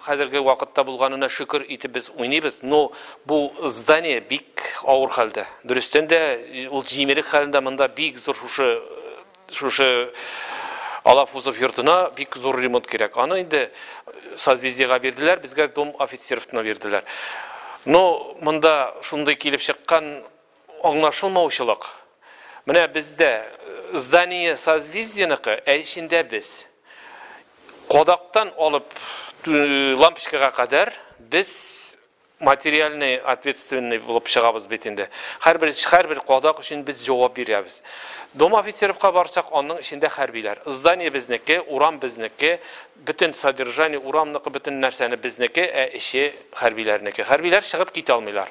Хәзерге вакытта булганына шөкер итеп без уйныйбыз, но бу здание бик авыр хәлдә. Дөрестән дә ул җимерек хәлендә монда бик зур шушы шушы Алафузов йортына бик зур ремонт кирәк. Аны инде созвездиега бирделәр, безгә дом офицеровна бирделәр. Но монда шундый килеп чыккан Аңлашылмаучылык. Менә бездә здание созвездиеныкы, ә эчендә без. Кадактан алып лампочкага кадәр без материальный ответственный булып чыгабыз бит инде. Һәрбер һәрбер кадак өчен без җавап бирәбез. Дом офицеровка барсак, аның эчендә хәрбиләр. Здание безнеке, урам безнеке, бөтен содержание урамныкы, бөтен нәрсәне безнеке, ә эче хәрбиләрнеке. Хәрбиләр чыгып китә алмыйлар.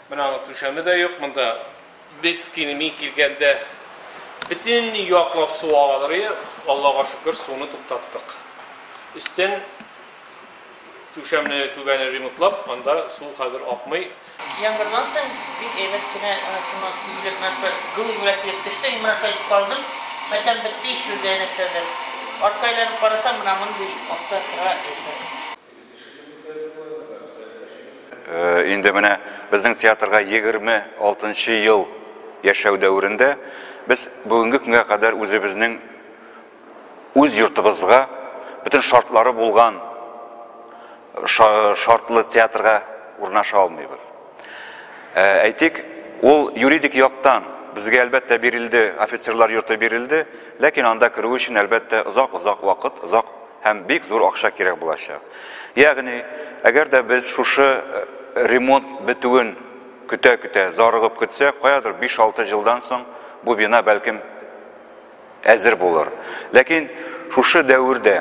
Менә аның түшәме дә юк монда. Без кини мин килгәндә бөтен яклап су агалыр иде. Аллага шөкер, суны туктаттык. Өстен түшәмне түбәне ремонтлап, анда су хәзер акмый. Яңгырдан соң бик әйбәт кенә менә шуннан юләп менә шулай гү юләп килеп төште. Мин менә шулай итеп калдым. Матәм бетте ишелде нәрсәдер. Артка әйләнеп карасам, менә мондый аста тыга иртән. Инде менә безнең театрга 26 нчы ел яшәү дәверендә без бүгенге көнгә кадәр үзебезнең үз йортыбызга бөтен шартлары булган шартлы театрга урнаша алмыйбыз. Ә, әйтик, ул юридик яктан безгә әлбәттә бирелде, офицерлар йорты бирелде, ләкин анда керү өчен әлбәттә озак-озак вакыт, озак һәм бик зур акча кирәк булачак. Ягъни, әгәр дә без шушы э, ремонт бетүен көтә-көтә, зарыгып көтсәк, каядыр 5-6 елдан соң бу бина бәлкем әзер булыр. Ләкин шушы дәвер дә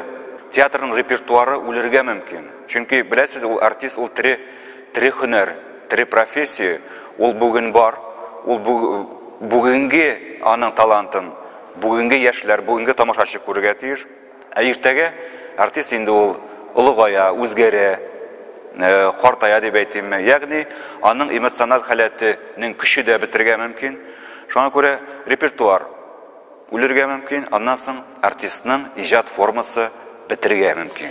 театрның репертуары үлергә мөмкин. Чөнки, беләсез, ул артист, ул тере, тере хөнәр, тере профессия, ул бүген бар, ул бу, бүгенге аның талантын бүгенге яшьләр, бүгенге тамашачы күрергә тиеш. Ә иртәгә артист инде ул олыгая, үзгәрә, э, картая дип әйтимме. Ягъни аның эмоциональ халәтенең көче дә бетерергә мөмкин. Шуңа күрә репертуар үлергә мөмкин, аннан соң артистның иҗат формасы бетерергә мөмкин.